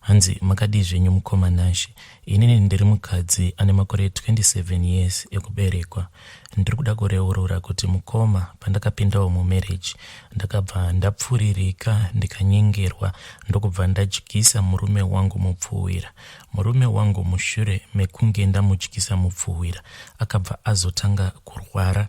Hanzi makadii zvenyu mukoma Nashe? Inini ndiri mukadzi ane makore 27 years ekuberekwa. Ndiri kuda kureurura kuti mukoma pandakapindawo mumarriage ndakabva ndapfuririka ndikanyengerwa ndokubva ndadyisa murume wangu mupfuhwira. Murume wangu mushure mekunge ndamudyisa mupfuhwira akabva azotanga kurwara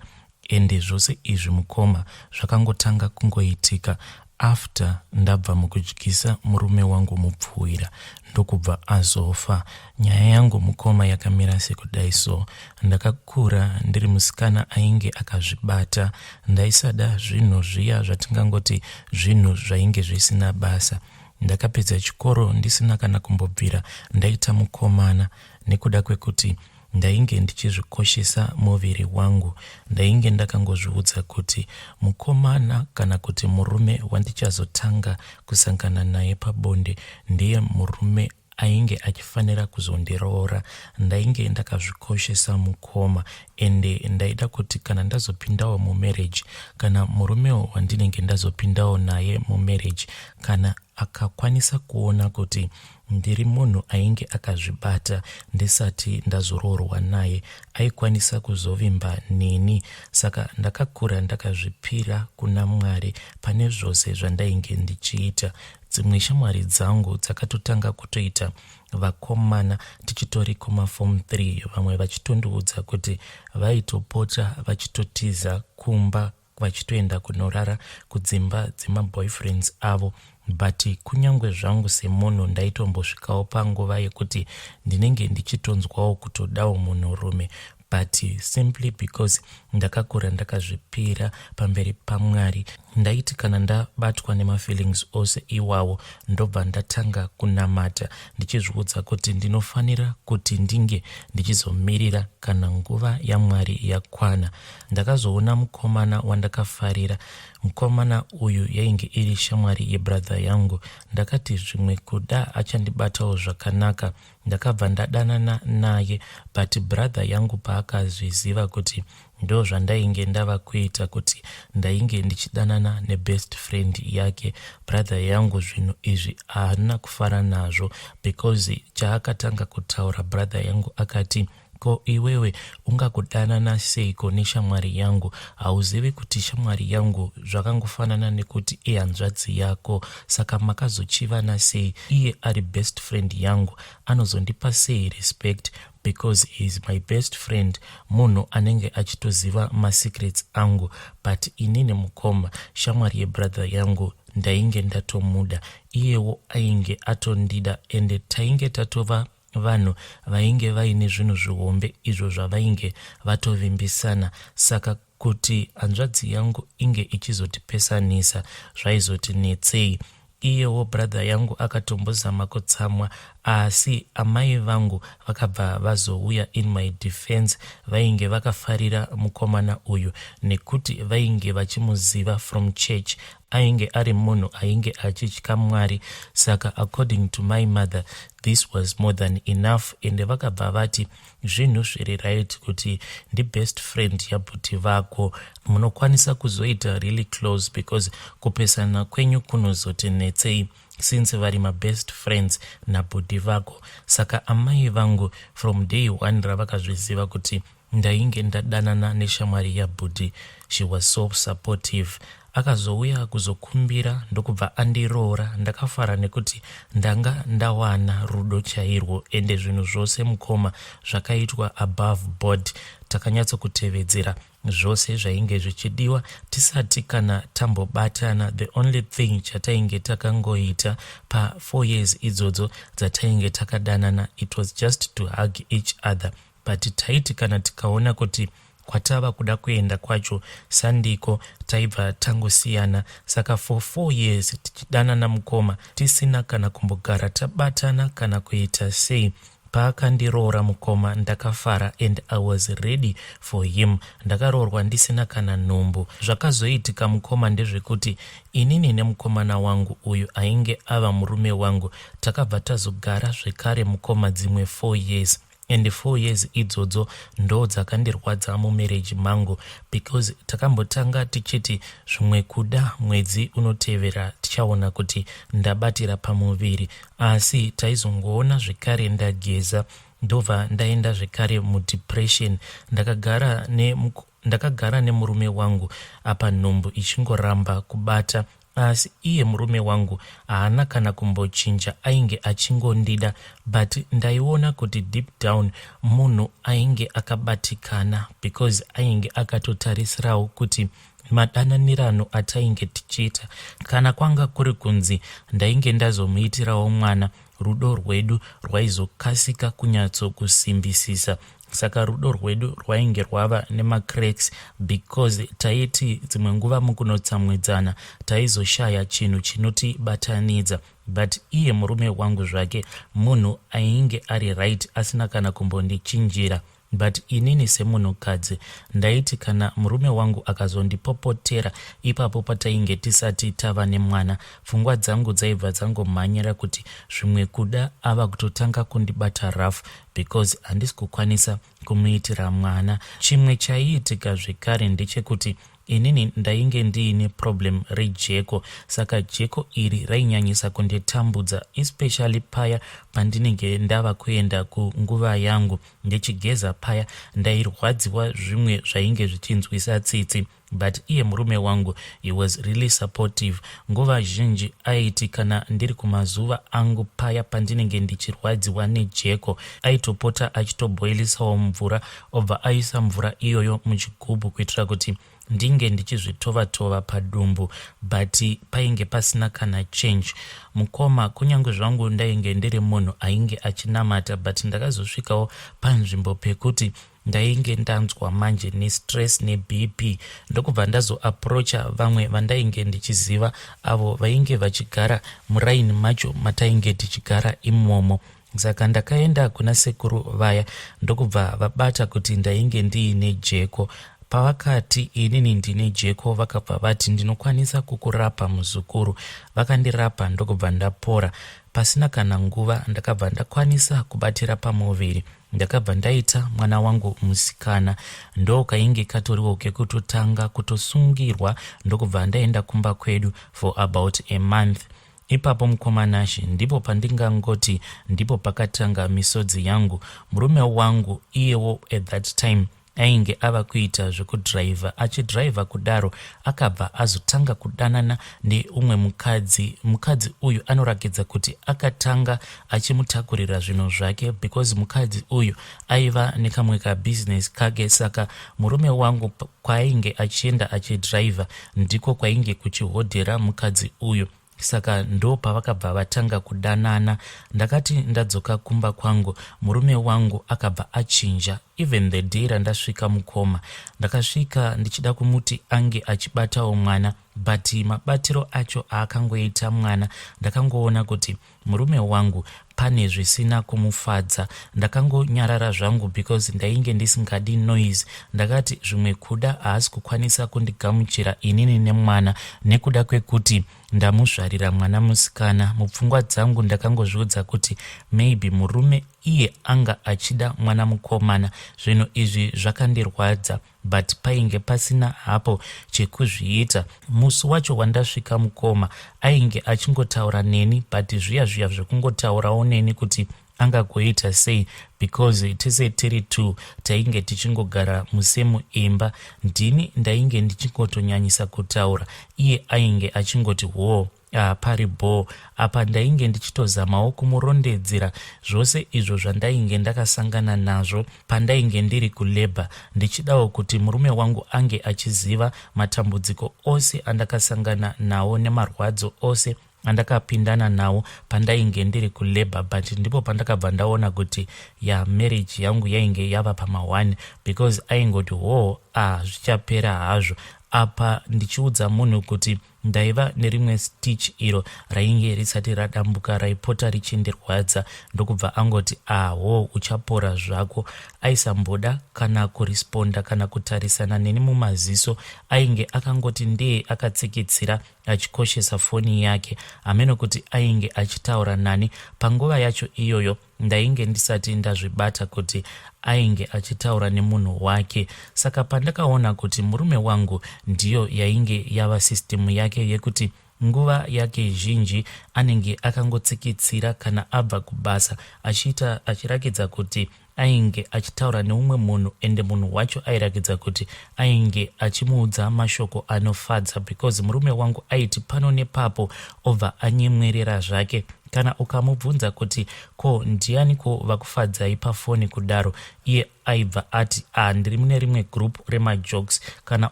Ende zvose izvi mukoma zvakangotanga kungoitika after ndabva mukudyisa murume wangu mupfuhwira ndokubva azofa. Nyaya yangu mukoma yakamira sekudai so. Ndakakura ndiri musikana ainge akazvibata. Ndaisada zvinhu zviya zvatingangoti zvinhu zvainge zvisina basa. Ndakapedza chikoro ndisina kana kumbobvira ndaita mukomana nekuda kwekuti Ndainge ndichizvikoshesa muviri wangu. Ndainge ndakangozviudza kuti mukomana kana kuti murume wandichazotanga kusangana naye pabonde ndiye murume ainge achifanira kuzondiroora. Ndainge ndakazvikoshesa mukoma ende ndaida kuti kana ndazopindawo mumarriage kana murumewo wandinenge ndazopindawo naye mumarriage kana akakwanisa kuona kuti ndiri munhu ainge akazvibata ndisati ndazoroorwa naye aikwanisa kuzovimba neni saka ndakakura ndakazvipira kuna mwari pane zvose zvandainge ndichiita dzimwe shamwari dzangu dzakatotanga kutoita vakomana tichitori kumafom 3 vamwe vachitondiudza kuti vaitopota vachitotiza kumba vachitoenda kunorara kudzimba dzemaboyfriends avo but kunyange zvangu semunhu ndaitombosvikawo panguva yekuti ndinenge ndichitonzwawo kutodawo munhurume but simply because ndakakura ndakazvipira pamberi pamwari ndaiti kana ndabatwa nemafeelings ose iwawo ndobva ndatanga kunamata ndichizviudza kuti ndinofanira kuti ndinge ndichizomirira kana nguva yamwari yakwana ndakazoona mukomana wandakafarira mukomana uyu yainge iri shamwari yebradha yangu ndakati zvimwe kuda achandibatawo zvakanaka ndakabva ndadanana naye but bradha yangu paakazviziva kuti ndo zvandainge ndava kuita kuti ndainge ndichidanana nebest friend yake bradha yangu zvinhu izvi haana kufara nazvo because chaakatanga kutaura bradha yangu akati Ko iwewe ungakudanana seiko neshamwari yangu? Hauzivi kuti shamwari yangu zvakangofanana nekuti ihanzvadzi yako? Saka makazochivana sei? Iye ari best friend yangu anozondipa sei respect because he is my best friend, munhu anenge achitoziva masecrets angu. But inini mukoma, shamwari yebrother yangu ndainge ndatomuda, iyewo ainge atondida ende tainge tatova Vanhu vainge vaine zvinhu zvihombe izvo zvavainge vatovimbisana saka kuti hanzvadzi yangu inge ichizotipesanisa zvaizotinetsei iyewo brother yangu akatombozama kutsamwa asi amai vangu vakabva vazouya in my defense vainge vakafarira mukomana uyu nekuti vainge vachimuziva from church ainge ari munhu ainge achitya mwari saka according to my mother this was more than enough ende vakabva vati zvinhu zviri right kuti ndibest friend yabhuti vako munokwanisa kuzoita really close because kupesana kwenyu kunozoti netsei since vari mabest friends nabhudhi vako saka amai vangu from day one ravakazviziva kuti Ndainge ndadanana neshamwari yabhudhi she was so supportive akazouya kuzokumbira ndokubva andiroora ndakafara nekuti ndanga ndawana rudo chairwo ende zvinhu zvose mukoma zvakaitwa above board takanyatsokutevedzera zvose zvainge zvichidiwa tisati kana tambobatana the only thing chatainge takangoita pafour years idzodzo dzatainge takadanana it was just to hug each other but taiti kana tikaona kuti kwatava kuda kuenda kwacho sandiko taibva tangosiyana saka for four years tichidanana mukoma tisina kana kumbogara tabatana kana kuita sei paakandiroora mukoma ndakafara and i was ready for him ndakaroorwa ndisina kana nhumbu zvakazoitika mukoma ndezvekuti inini nemukomana wangu uyu ainge ava murume wangu takabva tazogara zvekare mukoma dzimwe four years and four years idzodzo ndo dzakandirwadza mumarriage mangu because takambotanga tichiti zvimwe kuda mwedzi unotevera tichaona kuti ndabatira pamuviri asi taizongoona zvekare ndageza ndobva ndaenda zvekare mudepression ndakagara ne ndakagara nemurume wangu apa nhumbu ichingoramba kubata asi iye murume wangu haana kana kumbochinja ainge achingondida but ndaiona kuti deep down munhu ainge akabatikana because ainge akatotarisirawo kuti madananirano atainge tichiita kana kwanga kuri kunzi ndainge ndazomuitirawo mwana rudo rwedu rwaizokasika kunyatsokusimbisisa saka rudo rwedu rwainge rwava nemacracks because taiti dzimwe nguva mukunotsamwidzana taizoshaya chinhu chinotibatanidza but iye murume wangu zvake munhu ainge ari right asina kana kumbondichinjira but inini semunhukadzi ndaiti kana murume wangu akazondipopotera ipapo patainge tisati tava nemwana pfungwa dzangu dzaibva dzangomhanyira kuti zvimwe kuda ava kutotanga kundibata rafu because handisi kukwanisa kumuitira mwana. Chimwe chaiitika zvekare ndechekuti inini ndainge ndiine problem rejeko saka jeko iri rainyanyisa kunditambudza especially paya pandinenge ndava kuenda kunguva yangu ndichigeza paya ndairwadziwa zvimwe zvainge zvichinzwisa tsitsi but iye murume wangu he was really supportive nguva zhinji aiti kana ndiri kumazuva angu paya pandinenge ndichirwadziwa nejeko aitopota achitoboilisawo mvura obva aisa mvura iyoyo muchigubhu kuitira kuti ndinge ndichizvitova tova padumbu but painge pasina kana change mukoma kunyange zvangu ndainge ndiri munhu ainge achinamata but ndakazosvikawo panzvimbo pekuti ndainge ndanzwa manje nestress nebp ndokubva ndazoaproacha vamwe vandainge ndichiziva avo vainge vachigara muraini macho matainge tichigara imomo saka ndakaenda kuna sekuru vaya ndokubva vabata kuti ndainge ndiine jeko pavakati inini ndine jeko vakabva vati ndinokwanisa kukurapa muzukuru vakandirapa ndokubva ndapora pasina kana nguva ndakabva ndakwanisa kubatira pamuviri ndakabva ndaita mwana wangu musikana ndo kainge katoriwo kekutotanga kutosungirwa ndokubva ndaenda kumba kwedu for about a month ipapo mukoma nashe ndipo pandingangoti ndipo pakatanga misodzi yangu murume wangu iyewo at that time ainge ava kuita zvekudhiraivha achidhiraivha kudaro akabva azotanga kudanana neumwe mukadzi mukadzi uyu anorakidza kuti akatanga achimutakurira zvinhu zvake because mukadzi uyu aiva nekamwe kabhizinesi kake saka murume wangu kwaainge achienda achidhiraivha ndiko kwainge kuchihodhera mukadzi uyu saka ndo pavakabva vatanga kudanana ndakati ndadzoka kumba kwangu murume wangu akabva achinja even the day randasvika mukoma ndakasvika ndichida kumuti ange achibatawo mwana but mabatiro acho aakangoita mwana ndakangoona kuti murume wangu pane zvisina kumufadza ndakangonyarara zvangu because ndainge ndisingadi noise ndakati zvimwe kuda haasi kukwanisa kundigamuchira inini nemwana nekuda kwekuti ndamuzvarira mwana musikana mupfungwa dzangu ndakangozviudza kuti maybe murume iye anga achida mwana mukomana zvinhu izvi zvakandirwadza but painge pasina hapo chekuzviita musi wacho wandasvika mukoma ainge achingotaura neni but zviya zviya zvekungotaurawo neni kuti angagoita sei because tese tiri two tainge tichingogara musemu imba ndini ndainge ndichingotonyanyisa kutaura iye ainge achingoti hoo Ah, pari bhoo apa ndainge ndichitozamawo kumurondedzera zvose izvo zvandainge ndakasangana nazvo pandainge ndiri kulabor ndichidawo kuti murume wangu ange achiziva matambudziko ose andakasangana nawo nemarwadzo ose andakapindana nawo pandainge ndiri kulabor but ndipo pandakabva ndaona kuti ya marriage yangu yainge yava pamahwani because aingoti hoo ah zvichapera hazvo apa ndichiudza munhu kuti oh, Ndaiva nerimwe stitch iro rainge risati radambuka raipota richindirwadza ndokubva angoti aho ah, uchapora zvako. Aisamboda kana kurisponda kana kutarisana neni mumaziso ainge akangoti ndee akatsikitsira achikoshesa foni yake hameno kuti ainge achitaura nani. Panguva yacho iyoyo Ndainge ndisati ndazvibata kuti ainge achitaura nemunhu wake saka pandakaona kuti murume wangu ndiyo yainge yava system yake yekuti nguva yake zhinji anenge akangotsikitsira kana abva kubasa achiita achirakidza kuti ainge achitaura neumwe munhu ende munhu wacho airakidza kuti ainge achimuudza mashoko anofadza because murume wangu aiti pano nepapo obva anyemwerera zvake kana ukamubvunza kuti ko ndianiko vakufadzai pafoni kudaro iye aibva ati a ah, ndiri mune rimwe group remajokes kana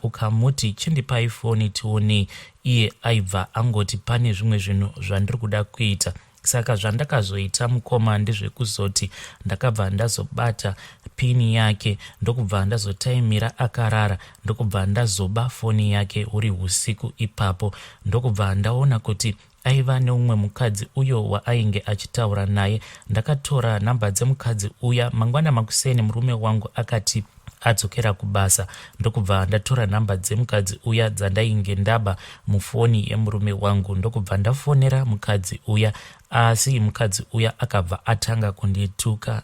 ukamuti chindipai foni tionei iye aibva angoti pane zvimwe zvinhu zvandiri kuda kuita saka zvandakazoita mukoma ndezvekuzoti ndakabva ndazobata pini yake ndokubva ndazotaimira akarara ndokubva ndazoba foni yake huri husiku ipapo ndokubva ndaona kuti aiva neumwe mukadzi uyo waainge achitaura naye ndakatora nhamba dzemukadzi uya mangwana makuseni murume wangu akati adzokera kubasa ndokubva ndatora nhamba dzemukadzi uya dzandainge ndaba mufoni yemurume wangu ndokubva ndafonera mukadzi uya asi mukadzi uya akabva atanga kundituka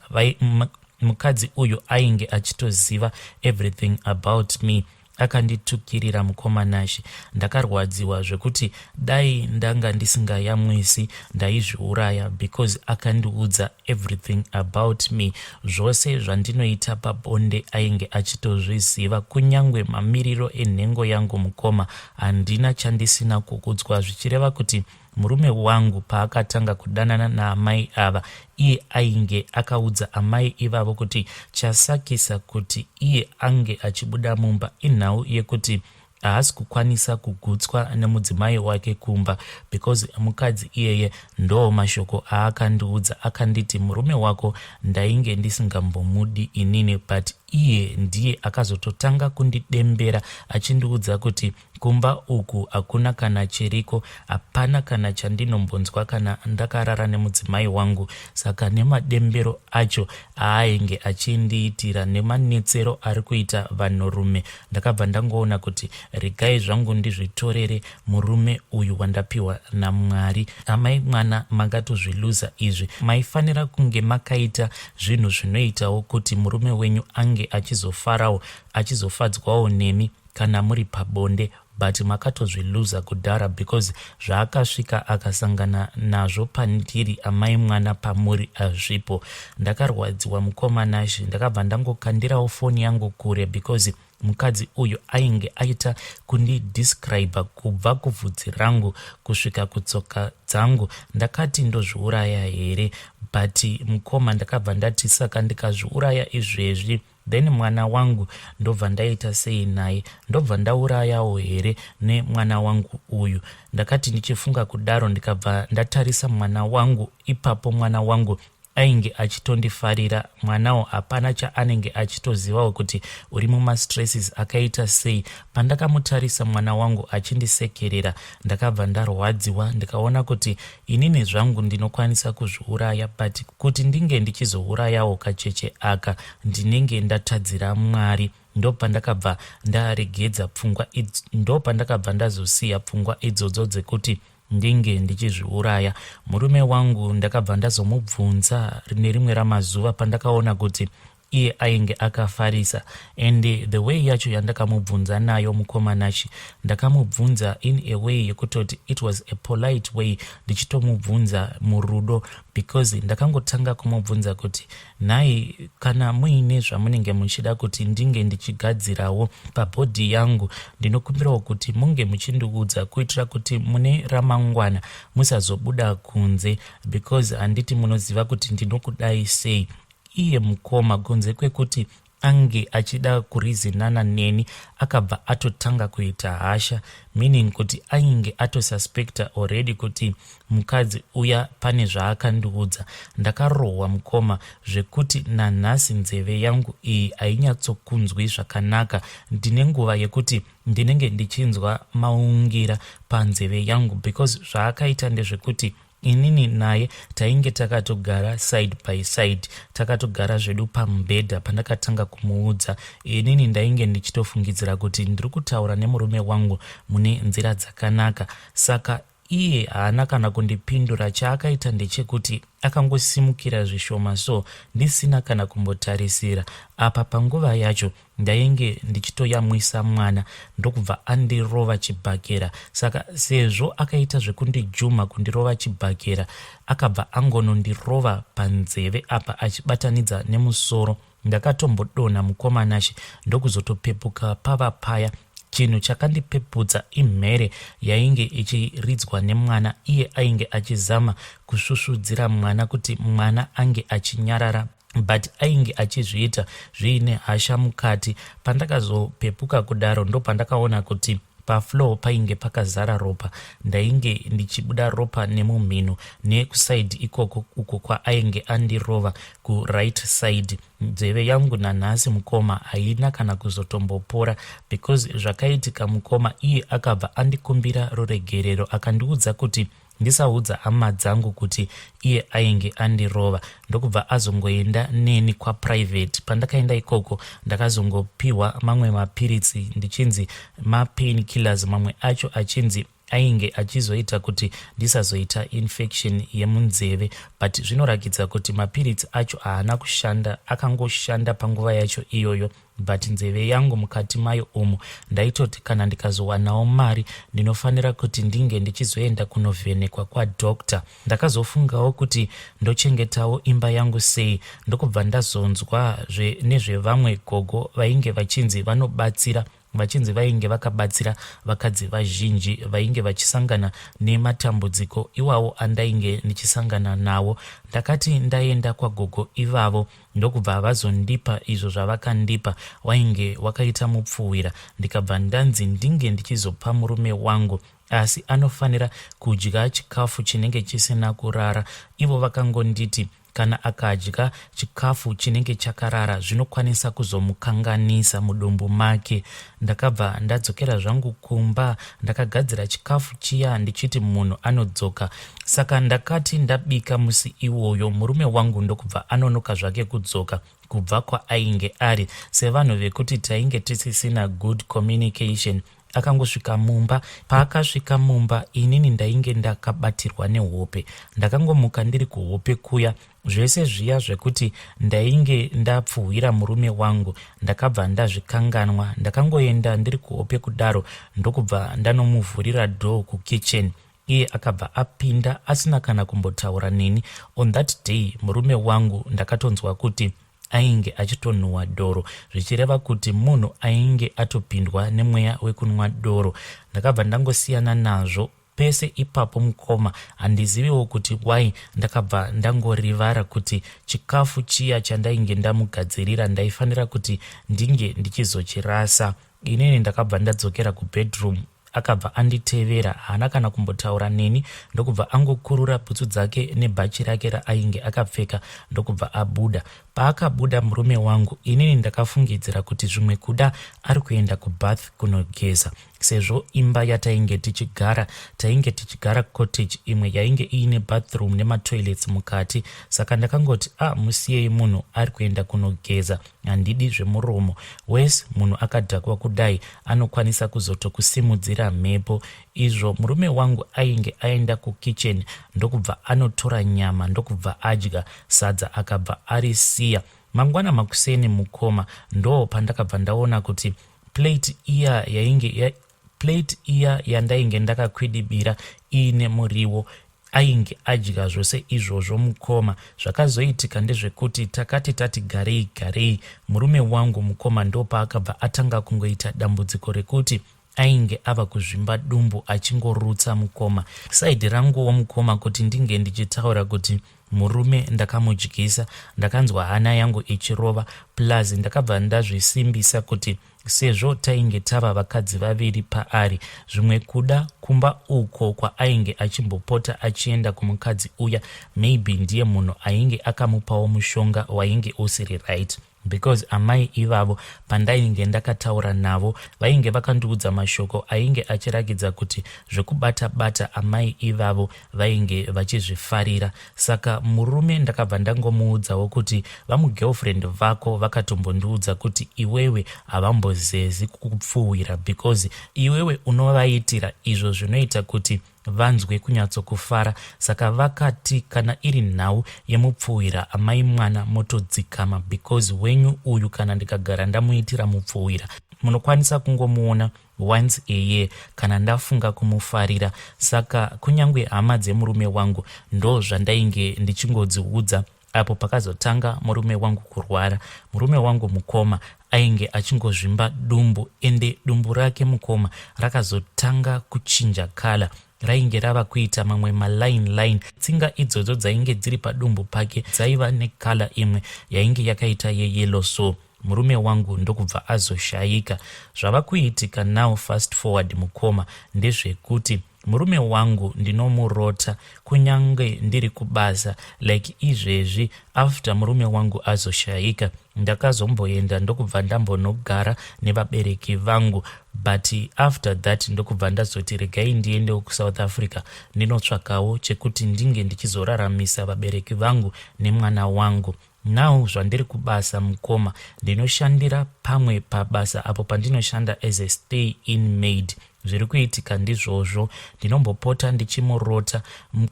mukadzi uyu ainge achitoziva everything about me akanditukirira mukoma nashe ndakarwadziwa zvekuti dai ndanga ndisingayamwisi ndaizviuraya because akandiudza everything about me zvose zvandinoita pabonde ainge achitozviziva kunyange mamiriro enhengo yangu mukoma handina chandisina kukudzwa zvichireva kuti Murume wangu paakatanga kudanana naamai ava, iye ainge akaudza amai ivavo kuti chasakisa kuti iye ange achibuda mumba inhau yekuti haasi kukwanisa kugutswa nemudzimai wake kumba because mukadzi iyeye ndoo mashoko aakandiudza akanditi murume wako ndainge ndisingambomudi inini but iye ndiye akazototanga kundidembera achindiudza kuti Kumba uku hakuna kana chiriko, hapana kana chandinombonzwa kana ndakarara nemudzimai wangu saka nemadembero acho aainge achindiitira nemanetsero ari kuita vanhurume ndakabva ndangoona kuti regai zvangu ndizvitorere murume uyu wandapiwa naMwari. Amai mwana makatozviluza izvi, maifanira kunge makaita zvinhu zvinoitawo kuti murume wenyu ange achizofarawo achizofadzwawo nemi. kana muri pabonde but makatozviluza kudhara because zvaakasvika akasangana nazvo pandiri amai mwana pamuri azvipo ndakarwadziwa mukoma nashe ndakabva ndangokandirawo foni yangu kure because mukadzi uyu ainge aita kundidescribe kubva kuvhudzi rangu kusvika kutsoka dzangu ndakati ndozviuraya here but mukoma ndakabva ndati saka ndikazviuraya izvezvi then mwana wangu ndobva ndaita sei naye ndobva ndaurayawo here nemwana wangu uyu ndakati ndichifunga kudaro ndikabva ndatarisa mwana wangu ipapo mwana wangu ainge achitondifarira mwanawo hapana chaanenge achitozivawo kuti uri mumastresses akaita sei pandakamutarisa mwana wangu achindisekerera ndakabva ndarwadziwa ndikaona kuti Inini zvangu ndinokwanisa kuzviuraya but kuti ndinge ndichizourayawo kacheche aka ndinenge ndatadzira Mwari ndopandakabva ndaregedza pfungwa ndopandakabva ndazosiya pfungwa idzodzo dzekuti ndinge ndichizviuraya murume wangu ndakabva ndazomubvunza nerimwe ramazuva pandakaona kuti iye ainge akafarisa and the way yacho yandakamubvunza nayo mukomanachi ndakamubvunza in a way yekutoti it was a polite way ndichitomubvunza murudo because ndakangotanga kumubvunza kuti nhai kana muine zvamunenge muchida kuti ndinge ndichigadzirawo pabhodhi yangu ndinokumbirawo kuti munge muchindiudza kuitira kuti mune ramangwana musazobuda kunze because handiti munoziva kuti ndinokudai sei Iye mukoma kunze kwekuti ange achida kurizinana neni akabva atotanga kuita hasha meaning kuti ainge atosuspecta already kuti mukadzi uya pane zvaakandiudza ndakarohwa mukoma zvekuti nanhasi nzeve yangu iyi hainyatsokunzwi zvakanaka ndine nguva yekuti ndinenge ndichinzwa maungira panzeve yangu because zvaakaita ndezvekuti inini naye tainge takatogara side by side takatogara zvedu pamubhedha pandakatanga kumuudza inini ndainge ndichitofungidzira kuti ndiri kutaura nemurume wangu mune nzira dzakanaka saka iye haana kana kundipindura chaakaita ndechekuti akangosimukira zvishoma so ndisina kana kumbotarisira apa panguva yacho Ndainge ndichitoyamwisa mwana ndokubva andirova chibhakera saka sezvo akaita zvekundijumha kundirova chibhakera akabva angonondirova panzeve apa achibatanidza nemusoro ndakatombodonha mukoma nashe ndokuzotopepuka pava paya chinhu chakandipepudza imhere yainge ichiridzwa nemwana iye ainge achizama kusvusvudzira mwana kuti mwana ange achinyarara but ainge achizviita zviine hasha mukati pandakazopepuka kudaro ndopandakaona kuti pafloor painge pakazara ropa ndainge ndichibuda ropa nemumhino nekusaidi ikoko uko kwaainge andirova kuright side nzeve yangu nanhasi mukoma haina kana kuzotombopora because zvakaitika mukoma iye akabva andikumbira ruregerero akandiudza kuti ndisaudza hama dzangu kuti iye ainge andirova ndokubva azongoenda neni kwaprivate pandakaenda ikoko ndakazongopiwa mamwe mapiritsi ndichinzi mapain killers mamwe acho achinzi ainge achizoita kuti ndisazoita infection yemunzeve but zvinorakidza kuti mapiritsi acho haana kushanda akangoshanda panguva yacho iyoyo but nzeve yangu mukati mayo umu ndaitoti kana ndikazowanawo mari ndinofanira kuti ndinge ndichizoenda kunovhenekwa kwadoctor ndakazofungawo kuti ndochengetawo imba yangu sei ndokubva ndazonzwa nezvevamwe gogo vainge vachinzi vanobatsira vachinzi vainge vakabatsira vakadzi vazhinji vainge vachisangana nematambudziko iwawo andainge ndichisangana nawo ndakati ndaenda kwagogo ivavo ndokubva vazondipa izvo zvavakandipa wainge wakaita mupfuhwira ndikabva ndanzi ndinge ndichizopa murume wangu asi anofanira kudya chikafu chinenge chisina kurara ivo vakangonditi kana akadya chikafu chinenge chakarara zvinokwanisa kuzomukanganisa mudumbu make Ndakabva ndadzokera zvangu kumba ndakagadzira chikafu chiya ndichiti munhu anodzoka. Saka ndakati ndabika musi iwoyo murume wangu ndokubva anonoka zvake kudzoka kubva kwaainge ari sevanhu vekuti tainge tisisina good communication akangosvika mumba paakasvika mumba inini ndainge ndakabatirwa nehope ndakangomuka ndiri kuhope kuya zvese zviya zvekuti ndainge ndapfuhwira murume wangu ndakabva ndazvikanganwa ndakangoenda ndiri kuhope kudaro ndokubva ndanomuvhurira door kukitchen iye akabva apinda asina kana kumbotaura neni on that day murume wangu ndakatonzwa kuti ainge achitonhuwa doro zvichireva kuti munhu ainge atopindwa nemweya wekunwa doro ndakabva ndangosiyana nazvo pese ipapo mukoma handiziviwo kuti why ndakabva ndangorivara kuti chikafu chiya chandainge ndamugadzirira ndaifanira kuti ndinge ndichizochirasa inini ndakabva ndadzokera kubedroom akabva anditevera haana kana kumbotaura neni ndokubva angokurura bhutsu dzake nebhachi rake raainge akapfeka ndokubva abuda paakabuda murume wangu inini ndakafungidzira kuti zvimwe kuda ari kuenda kubath kunogeza sezvo imba yatainge tichigara tainge tichigara cottage imwe yainge iine bathroom nematoilets mukati saka ndakangoti a ah, musiyei munhu ari kuenda kunogeza handidi zvemuromo wes munhu akadhakwa kudai anokwanisa kuzotokusimudzira mhepo izvo murume wangu ainge aenda kukitchen ndokubva anotora nyama ndokubva adya sadza akabva arisiya mangwana makuseni mukoma ndoo pandakabva ndaona kuti plate iya yainge ya, plate iya yandainge ndakakwidibira iine muriwo ainge adya zvose izvozvo mukoma zvakazoitika ndezvekuti takati tati garei garei murume wangu mukoma ndopaakabva atanga kungoita dambudziko rekuti ainge ava kuzvimba dumbu achingorutsa mukoma saidi ranguwo mukoma kuti ndinge ndichitaura kuti Murume ndakamudyisa ndakanzwa hana yangu ichirova plus ndakabva ndazvisimbisa kuti sezvo tainge tava vakadzi vaviri paari zvimwe kuda kumba uko kwaainge achimbopota achienda kumukadzi uya maybe ndiye munhu ainge akamupawo mushonga wainge usiri right because amai ivavo pandainge ndakataura navo vainge vakandiudza mashoko ainge achirakidza kuti zvekubata bata amai ivavo vainge vachizvifarira saka murume ndakabva ndangomuudzawo kuti vamugirlfriend vako vakatombondiudza kuti iwewe havambozezi kukupfuhwira because iwewe unovaitira izvo zvinoita kuti vanzwe kunyatsokufara saka vakati kana iri nhau yemupfuhwira amai mwana motodzikama because wenyu uyu kana ndikagara ndamuitira mupfuhwira munokwanisa kungomuona once a year kana ndafunga kumufarira saka kunyange hama dzemurume wangu ndo zvandainge ndichingodziudza apo pakazotanga murume wangu kurwara murume wangu mukoma ainge achingozvimba dumbu ende dumbu rake mukoma rakazotanga kuchinja kala rainge rava kuita mamwe maline line tsinga idzodzo dzainge dziri padumbu pake dzaiva nekala imwe yainge yakaita yeyelo so murume wangu ndokubva azoshayika zvava kuitika now fast forward mukoma ndezvekuti murume wangu ndinomurota kunyange ndiri kubasa like izvezvi after murume wangu azoshayika ndakazomboenda ndokubva ndambonogara nevabereki vangu but after that ndokubva ndazoti regai ndiendewo kusouth africa ndinotsvakawo chekuti ndinge ndichizoraramisa vabereki vangu nemwana wangu Now zvandiri kubasa mukoma ndinoshandira pamwe pabasa apo pandinoshanda as a stay in maid zviri kuitika ndizvozvo ndinombopota ndichimurota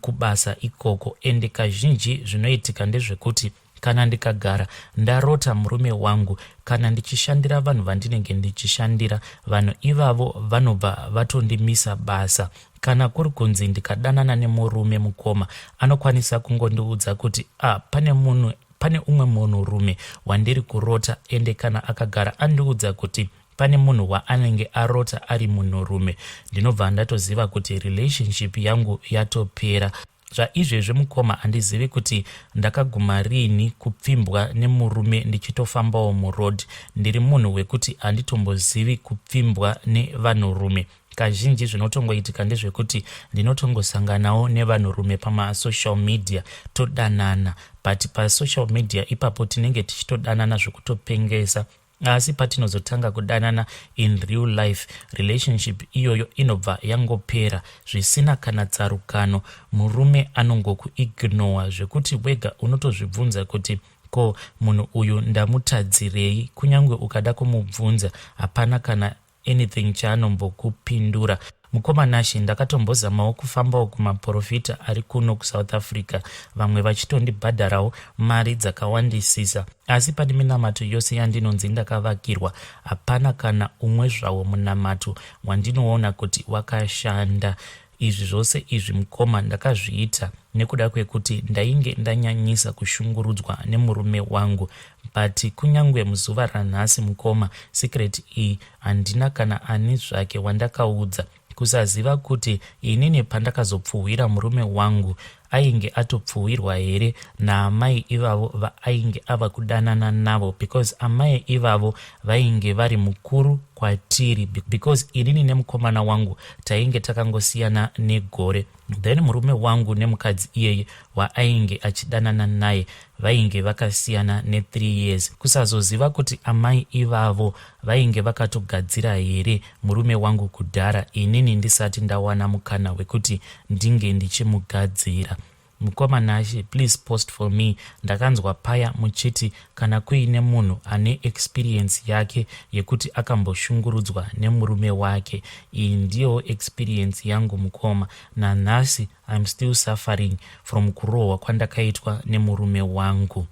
kubasa ikoko ende kazhinji zvinoitika ndezvekuti kana ndikagara ndarota murume wangu kana ndichishandira vanhu vandinenge ndichishandira vanhu ivavo vanobva vatondimisa basa Kana kuri kunzi ndikadanana nemurume mukoma anokwanisa kungondiudza kuti ah, pane munhu pane umwe munhu rume wandiri kurota ende kana akagara andiudza kuti pane munhu waanenge arota ari munhurume ndinobva ndatoziva kuti relationship yangu yatopera Zvaizvezvi mukoma handizivi kuti ndakaguma riini kupfimbwa nemurume ndichitofambawo muroad. Ndiri munhu wekuti handitombozivi kupfimbwa nevanhurume. Kazhinji zvinotongoitika ndezvekuti ndinotongosanganawo nevanhurume pamasocial media todanana but pasocial media ipapo tinenge tichitodanana zvekutopengesa asi patinozotanga kudanana in real life relationship iyoyo inobva yangopera zvisina kana tsarukano murume anongokuignowa zvekuti wega unotozvibvunza kuti ko munhu uyu ndamutadzirei kunyange ukada kumubvunza hapana kana anything chaanombokupindura mukoma nashe ndakatombozamawo kufambawo kumaporofita ari kuno kusouth africa vamwe vachitondibhadharawo mari dzakawandisisa asi pane minamato yose yandinonzi ndakavakirwa hapana kana umwe zvawo munamato wandinoona kuti wakashanda Izvi zvose izvi mukoma ndakazviita nekuda kwekuti ndainge ndanyanyisa kushungurudzwa nemurume wangu but kunyange muzuva ranhasi mukoma secret iyi handina kana ani zvake wandakaudza kusaziva kuti inini pandakazopfuhwira murume wangu ainge atopfuhwirwa here naamai ivavo vaainge ava kudanana navo because amai ivavo vainge vari mukuru kwatiri because inini nemukomana wangu tainge takangosiyana negore then murume wangu nemukadzi iyeye waainge achidanana naye vainge vakasiyana ne3 years kusazoziva kuti amai ivavo vainge vakatogadzira here murume wangu kudhara inini ndisati ndawana mukana wekuti ndinge ndichimugadzira mukoma nashe please post for me ndakanzwa paya muchiti kana kuine munhu ane experience yake yekuti akamboshungurudzwa nemurume wake iyi ndiyowo experience yangu mukoma nanhasi I'm still suffering from kurohwa kwandakaitwa nemurume wangu.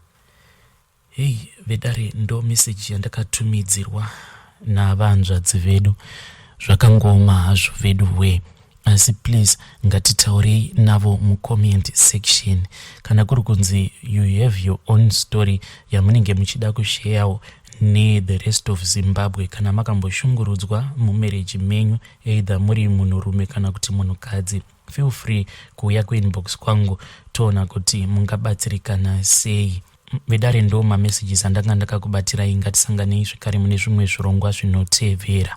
Hey vedare ndo message yandakatumidzirwa navanzvadzi vedu zvakangooma hazvo vedu wee asi please ngatitaurei navo mucomment section kana kuri kunzi you have your own story yamunenge muchida kusheyawo nethe rest of zimbabwe kana makamboshungurudzwa mumereji menyu either muri munhurume kana kuti munhukadzi feel free kuuya kuinbox kwangu toona kuti mungabatsirikana sei vedare ndo mamessages andanga ndakakubatirai ngatisanganei zvekare mune zvimwe zvirongwa zvinotevera